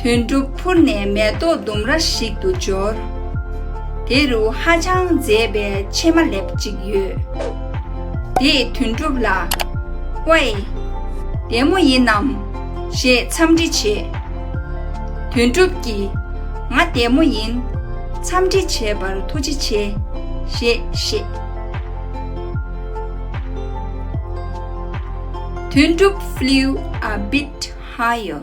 དོན་གྲུབ་འཕུར་ནས་མེ་ཏོག་ལྡུམ་ར་ཞིག་ཏུ་འབྱོར། དེ་རུ་ཧ་ཅང་མཛེས་པའི་ཕྱེ་མ་ལེབ་ཅིག་ཡོད། དེས་དོན་གྲུབ་ལ། དབའས། བདེ་མོ་ཡིན་ནམ། ཞེས་འཚམས་འདྲི་བྱས། དོན་གྲུབ་ཀྱིས། ང་བདེ་མོ་ཡིན། འཚམས་འདྲི་བྱས་པར་ཐུགས་རྗེ་ཆེ། ཞེས་བཤད། དོན་གྲུབ flew a bit higher།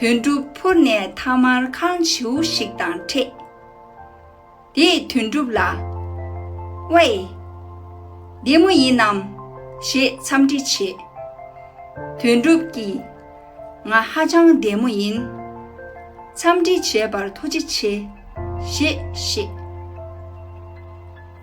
དོན་གྲུབ་འཕུར་ནས་མཐའ་མར་ཁང་བྱིའུ་ཞིག་དང་འཕྲད། དེས་དོན་གྲུབ་ལ། དབའས། བདེ་མོ་ཡིན་ནམ། ཞེས་འཚམས་འདྲི་བྱས། དོན་གྲུབ་ཀྱིས། ང་ཧ་ཅང་བདེ་མོ་ཡིན། འཚམས་འདྲི་བྱས་པར་ཐུགས་རྗེ་ཆེ། ཞེས་བཤད།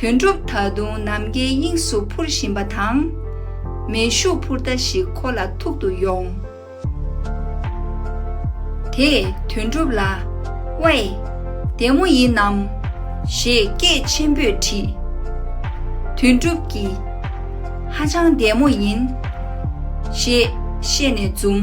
དོན་གྲུབ་ད་དུང་ནམ་མཁའི་དབྱིངས་སུ་འཕུར་བཞིན་པ་དང། མེ་ཤུགས་འཕུར་མདའ་ཞིག་ཁོ་ལ་ཐུག་ཏུ་ཡོང། དེས་དོན་གྲུབ་ལ། དབྱེ། བདེ་མོ་ཡིན་ནམ། ཞེས་སྐད་ཆེན་པོས་དྲིས། དོན་གྲུབ་ཀྱིས། ཧ་ཅང་བདེ་མོ་ཡིན། ཞེས་བཤད་ནས་འཛུམ།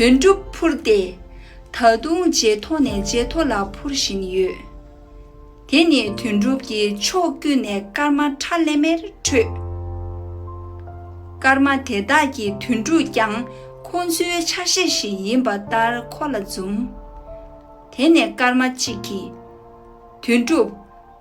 དོན་གྲུབ་འཕུར་ཏེ། ད་དུང་རྗེས་ཐོག་ནས་རྗེས་ཐོག་ལ་འཕུར་བཞིན་ཡོད། དེ་ནི་དོན་གྲུབ་ཀྱིས་ཕྱོགས་ཀུན་ནས་སྐར་མ་ཁྲ་ལེ་མེར་འཕྲོས། སྐར་མ་དེ་དག་གི་དོན་གྲུབ་ཀྱང་ཁོང་ཚོའི་ཆ་ཤས་ཤིག་ཡིན་པ་ལྟར་ཁོ་ལ་འཛུམ། དེ་ནས་སྐར་མ་གཅིག་གིས། དོན་གྲུབ།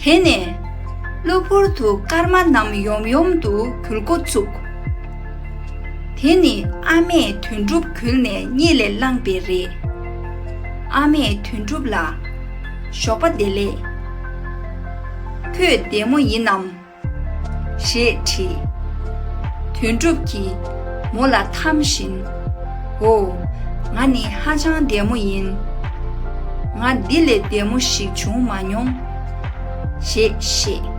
དེ་ནས་གློ་བུར་དུ་སྐར་མ་རྣམས་ཡོམ་ཡོམ་དུ་འགྱུར་འགོ་བཙུགས། དེ་ནི་ཨ་མས་དོན་གྲུབ་གུལ་ནས་རྙེད་ལས་བླངས་པས་རེད། ཨ་མས་དོན་གྲུབ་ལ། ཞོགས་པ་བདེ་ལེགས། ཁྱོད་བདེ་མོ་ཡིན་ནམ། ཞེས་བྲི། དོན་གྲུབ་ཀྱིས། མོ་ལ་འཐམ་བཞིན། ཧོ། ང་ནི་ཧ་ཅང་བདེ་མོ་ཡིན། ང་འདི་ལས་བདེ་མོ་ཞིག་བྱུང་མ་མྱོང། ཞེས་བཤད།